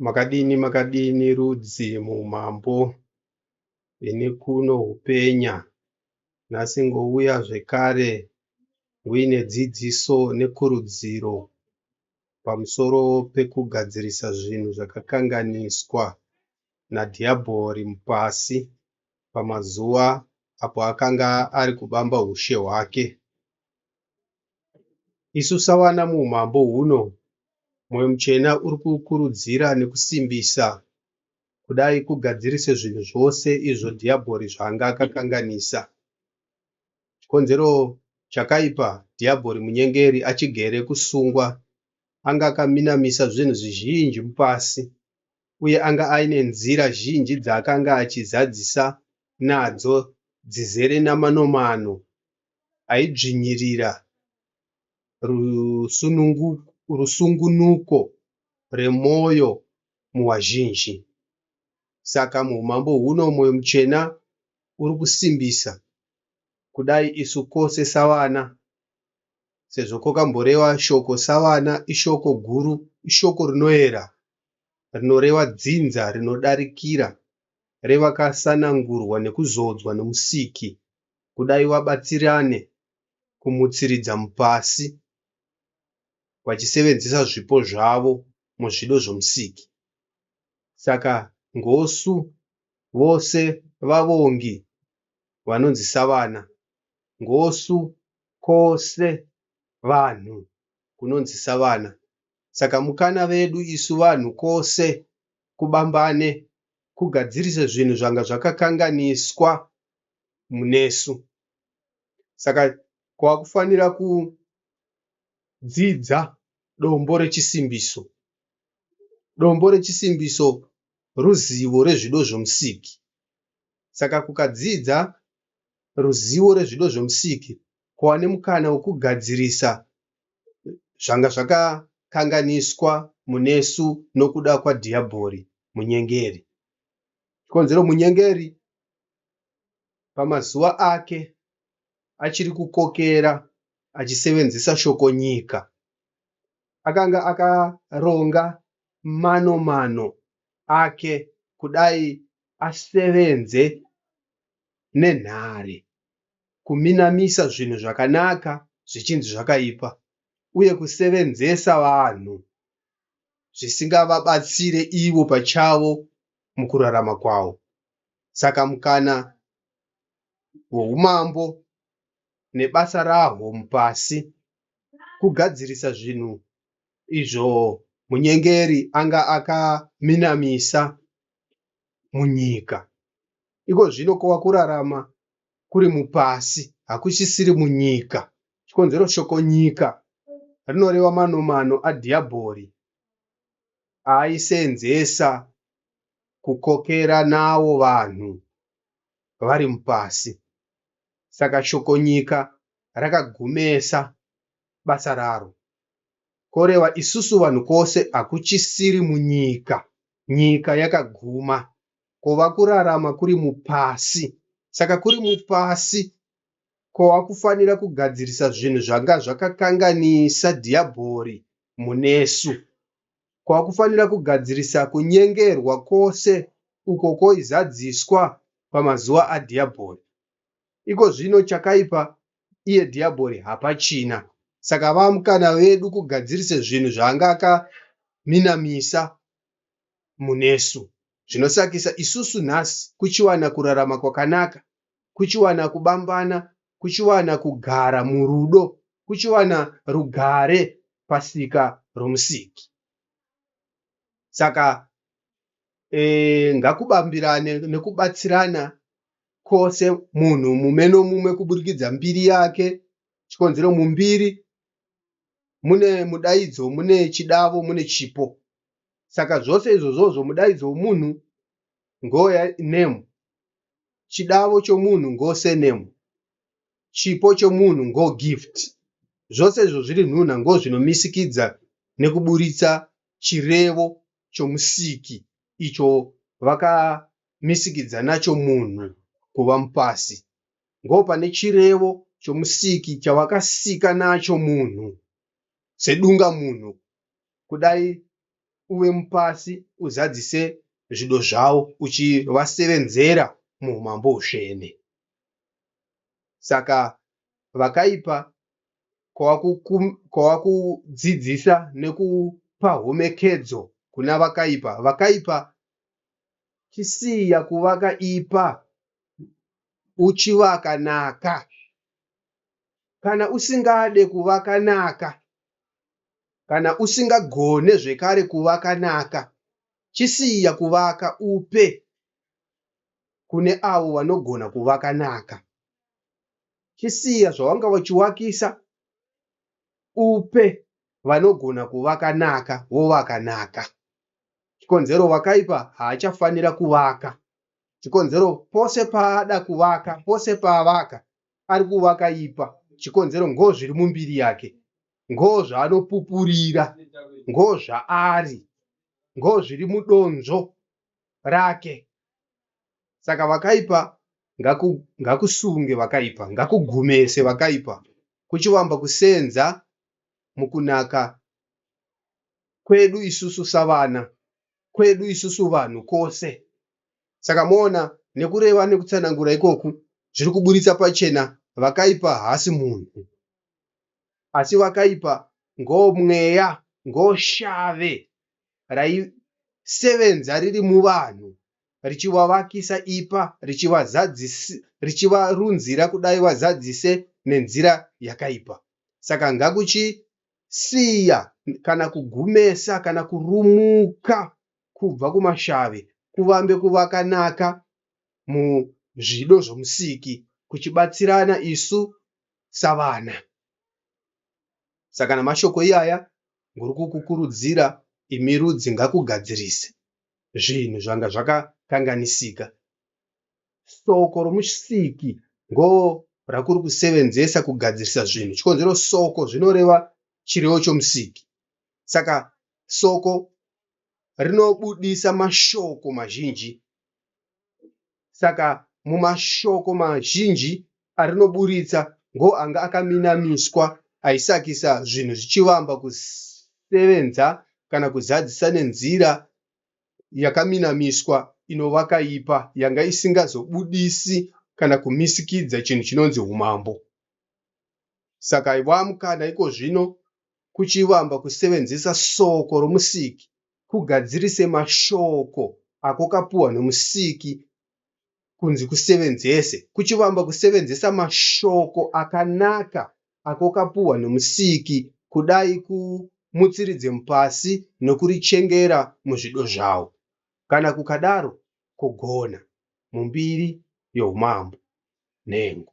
Makadini makadini rudzi mumambo ini kuno hupenya nhasi ngouya zvekare nguine dzidziso nekurudziro pamusoro pekugadzirisa zvinhu zvakakanganiswa nadhiyabhori mupasi pamazuva apo akanga ari kubamba hushe hwake. Isu sawana muumambo huno, Mwoyo Mutsvene uri kukurudzira nekusimbisa kudai kugadzirise zvinhu zvose izvo Dhiyabhori zvaanga akakanganisa. Chikonzero chakaipa Dhiyabhori munyengeri achigere kusungwa, anga akaminamisa zvinhu zvizhinji mupasi, uye anga aine nzira zhinji dzaakanga achizadzisa nadzo dzizere namanomano aidzvinyirira rusungunuko rwemwoyo muvazhinji. Saka muumambo huno mwoyo mutsvene uri kusimbisa kudai isu kwose savana, sezvo kwakamboreva shoko savana ishoko guru, ishoko rinoera, rinoreva dzinza rinodarikira revakasanangurwa nekuzodzwa noMusiki kudai vabatsirane kumutsiridza mupasi vachisevenzesa zvipo zvavo muzvido zvoMusiki. Saka ngosu vose vavongi vanonzi savana, ngosu kose vanhu kunonzi savana. Saka mukana vedu isu vanhu kose kubambane kugadzirise zvinhu zvanga zvakakanganiswa munesu saka kwakufanira kudzidza dombo rechisimbiso. Dombo rechisimbiso ruzivo rwezvido zveMusiki saka kukadzidza ruzivo rwezvido zveMusiki kwava nemukana wekugadzirisa zvanga zvakakanganiswa munesu nokuda kwaDhiyabhori munyengeri. Chikonzero munyengeri pamazuva ake achiri kukokera achisevenzesa shoko nyika. Akanga akaronga mano mano ake kudai asevenze nenhare kuminamisa zvinhu zvakanaka zvichinzi zvakaipa uye kusevenzesa vanhu zvisingavabatsire ivo pachavo mukurarama kwavo. Saka mukana weumambo nebasa rahwo mupasi kugadzirisa zvinhu izvo munyengeri anga akaminamisa munyika. Iko zvino kwava kurarama kuri mupasi hakuchisiri munyika. Chikonzero shoko nyika rinoreva manomano aDhiyabhori aaiseenzesa kukokera nawo vanhu vari mupasi saka Shoko-nyika rakagumesa basa raro koreva isusu vanhu kose hakuchisiri munyika nyika yakaguma kova kurarama kuri mupasi saka kuri mupasi kova kufanira kugadzirisa zvinhu zvanga zvakakanganisa Dhiyabhori munesu. kwakufanira kugadzirisa kunyengerwa kwose uko kwoizadziswa pamazuva aDhiabhori. Iko zvino chakaipa iye Dhiabhori hapachina. Saka vamkana vedu kugadzirisa zvinhu zvaanga akaminamisa munesu. Zvinosakisa, isusu nhasi kuchiwana kurarama kwakanaka kuchiwana kubambana, kuchiwana kugara murudo, kuchiwana rugare pasika roMusiki. Saka ngakubambirane nekubatsirana kwose munhu mumwe nomumwe kuburikidza mbiri yake chikonzero mumbiri mune mudaidzo mune chidavo mune chipo saka zvose izvozvozvo mudaidzo wemunhu ngoya name chidavo chomunhu ngo surname, chipo chomunhu ngo gift. Zvose izvo zviri nhunha ngozvinomisikidza nekuburitsa chirevo choMusiki icho vakamisikidza nacho munhu kuva mupasi. Ngopane chirevo choMusiki chavakasika nacho munhu sedungamunhu kudai uve mupasi uzadzise zvido zvavo uchivasevenzera muhumambo husvene. Saka vakaipa kwava kudzidzisa nekupa homekedzo kuna vakaipa, vakaipa chisiya kuvaka ipa uchivaka naka. Kana usingade kuvaka naka Kana usingagone zvekare kuvaka naka chisiya kuvaka upe kune avo vanogona kuvaka naka. Chisiya zvawanga uchiwakisa upe vanogona kuvaka naka wovaka naka. Chikonzero wakaipa haachafanira kuvaka. Chikonzero pose paada kuvaka pose paavaka ari kuva akaipa chikonzero ngoo zviri mumbiri yake ngoo zvaanopupurira ngoo zvaari ngoo zviri mudonzvo rake saka vakaipa ngaku, ngakusunge vakaipa ngakugumese vakaipa kuchivamba kusenza mukunaka kwedu isusu savana kwedu isusu vanhu kose Saka moona nekureva nekutsanangura ikoku zviri kuburitsa pachena vakaipa haasi munhu asi vakaipa ngomweya ngoshave raisevenza riri muvanhu richivavakisa ipa richivarunzira kudai vazadzise nenzira yakaipa. Saka ngakuchisiya kana kugumesa kana kurumuka kubva kumashavi kuvambe kuvakanaka muzvido zvomusiki kuchibatsirana isu savana saka namashoko iyaya nguri kukukurudzira imi rudzi ngakugadzirise zvinhu zvanga zvakakanganisika soko romusiki ngo rakuri kusevenzesa kugadzirisa zvinhu chikonzero soko zvinoreva chirevo chomusiki saka Soko rinobudisa mashoko mazhinji. Saka mumashoko mazhinji arinoburitsa ngoanga akaminamiswa aisakisa zvinhu zvichivamba kusevenza kana kuzadzisa nenzira yakaminamiswa inova kaipa yanga isingazobudisi kana kumisikidza chinhu chinonzi humambo. Saka ivamkana ikozvino kuchivamba kusevenzesa Soko roMusiki kugadzirise mashoko ako kapuwa noMusiki kunzi kusevenzese kuchivamba kusevenzesa mashoko akanaka ako kapuwa noMusiki kudai ku mutsiridze mupasi nokurichengera muzvido zvawo. Kana kukadaro kogona. Mumbiri yoUmambo. Nhengo.